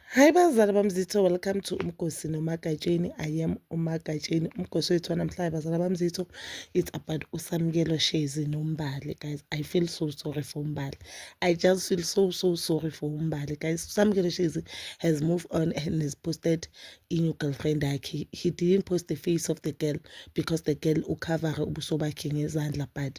Hi bazali bamzitho welcome to umgosi nomagatsheni i am umagatsheni umgosi wethu wanamhlanje bazali bamzitho it's about usamukelo shezi nombali guys i feel so sorry for umbali i just feel so so sorry for umbali guys usamukelo shezi has moved on and has posted inew girlfriend yakhe he didn't post the face of the girl because the girl ucovere ubuso bakhe ngezandla but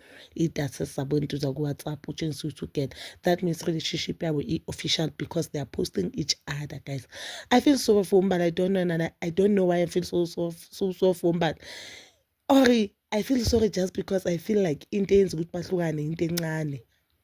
idatha zabo entuza kuwhatsapp utshengisa ukuthi ugena that means relationship yabo i-official because they are posting each other guys i feel so for umbala i don't know and i don't know why i feel so so so, so for umbala or i feel sorry just because i feel like into eyenza ukuthi bahlukane into encane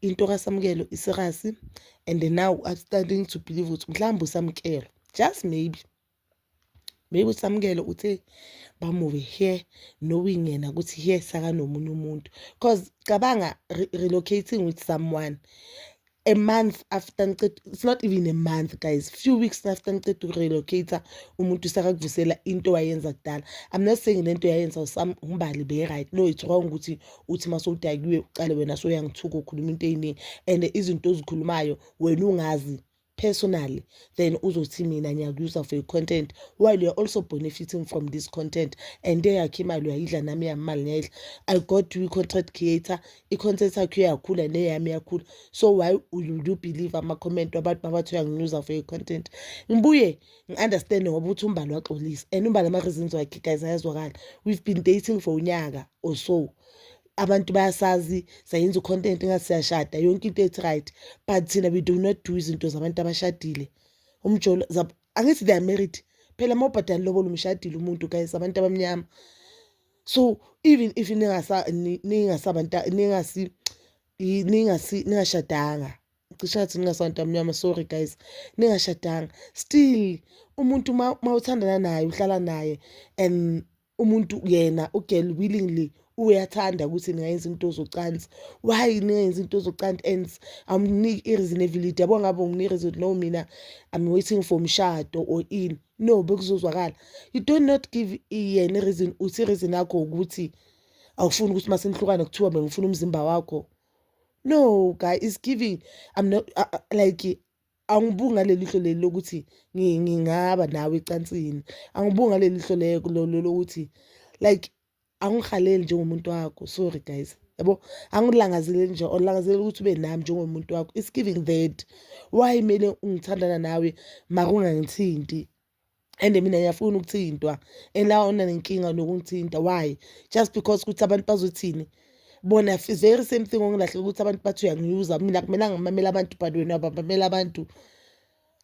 into kasamukelo iserasi and now i'm starting to believe ukuthi mhlawumbe usamukelo just maybe maybe usamukelo uthe bamuve here knowing yena ukuthi here sakanomunye umuntu because cabanga re relocating with someone a month after ngiceda it's not even a month guys few weeks after ngiceda ukurelocate umuntu sakakuvusela into wayenza kudala i'm not saying lento yayenza umbali be right no it's wrong ukuthi uthi uma sowudakiwe uqale wena soyangithuka ukhuluma into ey'ningi and izinto ozikhulumayo wena ungazi personally then uzothi mina ngiyakuuser for i-content while you're also benefiting from this content and eyakhe imali uyayidla nami yamali ngiyayidla i got you i-content creator i-content yakho iyakhula neyami iyakhula so why you do believe ama-comment wabantu babathi uyangiuser for i-content ngibuye ngi-understand ngoba ukuthi umbali waxolisa and umbali ama-reasons wakhe guys ayazwakala we've been dating for unyaka or so abantu bayasazi sayenza ucontent ngathi siyashada yonke into ethi right but thina we do not do izinto zabantu abashadile umjolo angithi they are married phela uma ubhadala lobo lumshadile umuntu guys abantu abamnyama so even if ningasabantu ningasi ningashadanga cishe athi ningasantu amnyama sorry guys ningashadanga still umuntu uma uthandana naye uhlala naye and umuntu yena ugirl willingly uyathanda ukuthi ningayenza into zocansi why ningayenza into zocansi and amniki i-reasonable yabo ngabe unginika reason no mina i'm waiting for mshado or in no bekuzozwakala you do not give yena i-reason uthi i-reason yakho ukuthi awufuni ukuthi uma senihlukane kuthiwa bengifuna umzimba wakho no guy is giving i'm not uh, uh like angibuki ngaleli hlo leli lokuthi ngingaba nawe ecansini angibuki ngaleli hlo leko lokuthi like angihaleli njengomuntu wakho sorry guys yabo angilangazeleli nje olangazelela ukuthi ube nami njengomuntu wakho it's giving that why kumele ngithandana nawe mara ungangithinti and mina ngiyafuna ukuthintwa and la ona nenkinga nokungithinta why just because ukuthi abantu bazothini bona very same thing ongilahleka ukuthi abantu bathi uyangiuza mina kumele ngimamele abantu but wena babamela abantu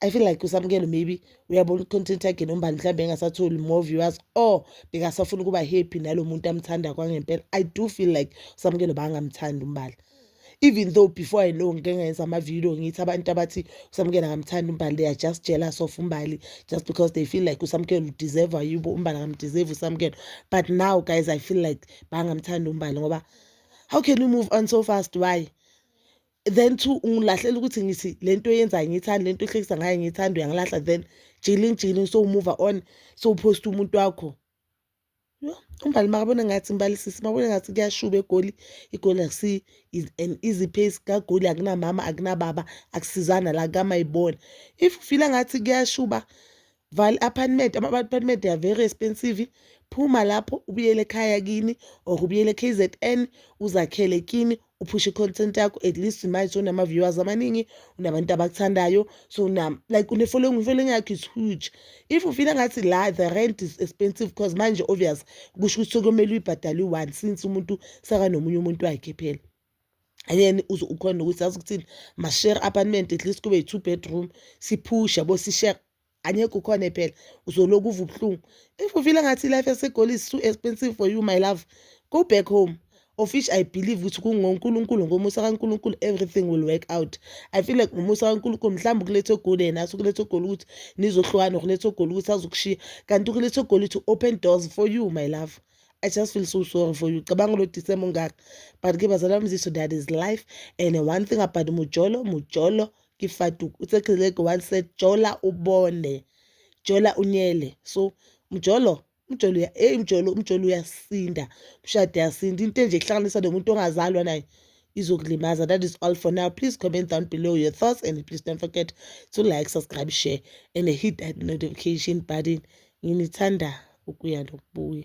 I feel like usamukelo maybe uyabona i-content yakhe nombani mhlawumbe engasatholi more viewers or bekasafuna ukuba happy nalo muntu amthanda kwangempela i do feel like usamukelo bangamthandi umbala even though before i know ngike ngenza amavidiyo ngithi abantu abathi usamkela ngamthanda umbali they are just jealous of umbali just because they feel like usamkela udeserve yibo umbali angamdeserve usamkela but now guys i feel like bangamthanda umbali ngoba how can you move on so fast why then to ungilahlela ukuthi ngithi le nto yenzayo ngiyithanda le nto ehlekisa ngayo ngiyithanda uyangilahla then jilin jilin so umuva on so uphosta umuntu wakho Yho, uMbali makabona ngathi Mbali sisi makabona ngathi kuyashuba eGoli, iGoli akusiyo is an easy pace kaGoli akunamama akunababa akusizana la kamayibona. If ufila ngathi kuyashuba vala i-apartment ama-apartment are very expensive phuma lapho ubuyele ekhaya kini or ubuyele e-KZN uzakhele kini uphushe i-content yakho at least manje unama-viewers amaningi unabantu abakuthandayo so na like une-following i-following yakho is huge if ufila ngathi la the rent is expensive because manje obvious kusho ukuthi sekumele uyibhadale u-one since umuntu sekanomunye umuntu wakhe phela and then uze ukhona ukuthi azi ukuthini ma-share apartment at least kube yi-two bedroom siphushe yabo si-share angekho ukhona phela uzoloku uva ubuhlungu if you feel ngathi life yasegoli is too expensive for you my love go back home of which i believe ukuthi kungonkulunkulu ngomusa kankulunkulu everything will work out i feel like ngomusa kankulunkulu mhlawumbe ukuletha ogoli yena ase ukuletha ogoli ukuthi nizohlukana ukuletha ogoli ukuthi azokushiya kanti ukuletha ogoli to open doors for you my love I just feel so sorry for you cabanga lo December ungaka but ke bazalwa mziso that is life and one thing about mujolo mujolo ke faduk uthe kheleke one set jola ubone jola unyele so mjolo umjolo hey mjolo umjolo uyasinda umshado uyasinda into enje kuhlanganisa nomuntu ongazalwa naye izokulimaza that is all for now please comment down below your thoughts and please don't forget to like subscribe share and hit that notification button nginithanda ukuya nokubuya